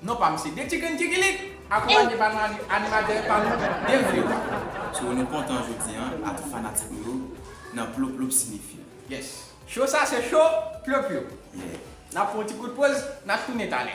Non pa misye de chicken kikilik akonpanye pa nou animatè pa nou byen vre wa. So nou kontan jodi an a tout fanatik nou yo nan plo plo sinifye. Yes Show sa se show plo plo. Yeah. Nap fè yon ti kout poz nap tounen talè.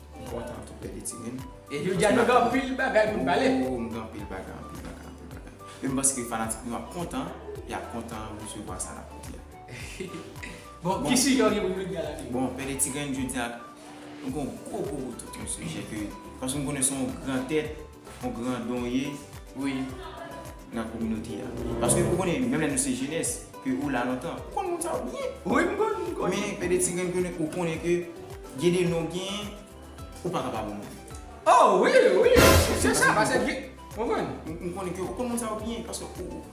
Bon tan tou pede ti moun. E jodi a nou gen anpil bagay pou nou pale. Woo m gen anpil bagay, anpil bagay, anpil bagay. E m panse ke fanatik nou ap kontan, y ap kontan resevwa sa n ap di a. Bon, ki sijè ou gen pou nou di a la tou? Bon, pede ti grenn jodi a, nou gen yon gwo gwo gwo tout yon sijè ke, paske m konnen se yon gran tèt, On gran don w ye wi nan kominote a. Paske ou konnen menm lè nou se jenès ke ou la lontan. Ou konn moun sa yo byen. Wi m konn, m konn. Men de ti grenn ke ou konnen ke gen de non w genyen ou pa ka pa bon moun. Oh wi, wi. Se sa paske gen, ou konprann. M konnen ke ou konn moun sa yo byen paske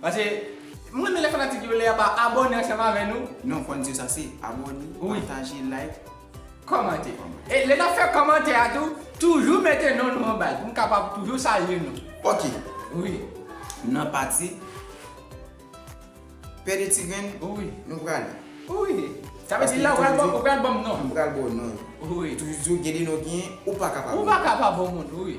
Pase m renmen lè fanatik yo lè yap abòne ansanm avè nou. Non fans yo sa se abòne, pataje, like, kòmante. E lè nap fè kòmantè a tou toujou mete non nou anbal pou m kapab toujou salye nou. Ok wi nan pati pè de ti grenn wi nou prale. Wi sa vle di la ou pral banm non. M pral baw non yo. Wi. Toujou gen de non ki ou paka pa banm. Ou paka pa banm moun wi.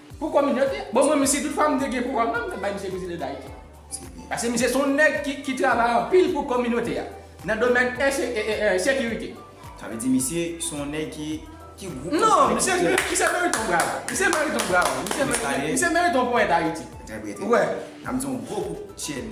Pou kominote. Bon mwen menm si tout fwa m te gen pouvwa m nan m tap bay misye prezidan dayiti. Paske misye se yon nèg ki travay anpil pou kominote a nan domèn sekirite. Sa vle di misye se yon nèg ki ki gwo kòm Non misye misye merite yon bravo. Misye merite yon bravo. Misye merite yon ponyèt ayiti. Ou wè. Sa vle di yon gwo kout chèn.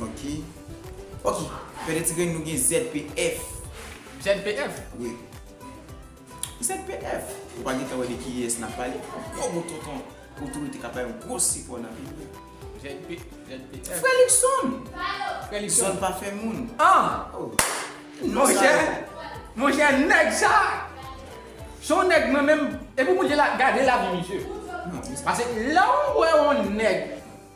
Ok Ok Pè de ti grenn nou gen ZPF. ZPF? Wi. ZPF. Ou pa gentan wè de ki yès nap pale. Yon gwo bout tonton otorite kap bay yon gwo sipò nan peyi a. ZPF. Frè Luckson! Frè Luckson. Zòn pa fè moun. An! Oh! Monchè! Monchè nèg sa! Son nèg mwen menm. Epi pou gade lavi misye. Pase lè ou wè yon nèg.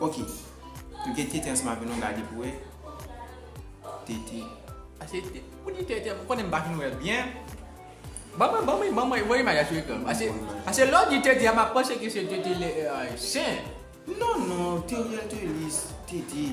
Ok Nou gen tete ansanm avè nou gade pou wè tete Ase tete Pou di tete m konnen m pa fin wè l byen Ban mwen ban mwen ban mwen voye imaj la sou ekran Ase Ase lè w di tete a m ap panse ke se tete lè Chen Non non Teriel Thelus tete.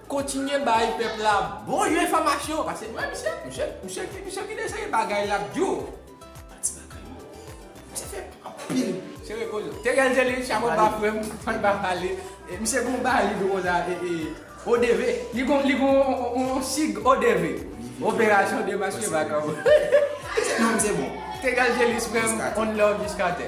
Kontinye bay pèp la bon jan enfòmasyon pase wè misye, misye ki deseye bagay lap diw manti bagay yo misye fè anpil sere kol yo te gen zele chapo ba frèm fòl ba pale misye gon bali do konsa odv li gon li gon yon sig odv operasyon demaske vagabon te gen zele frèm on love jiskatè.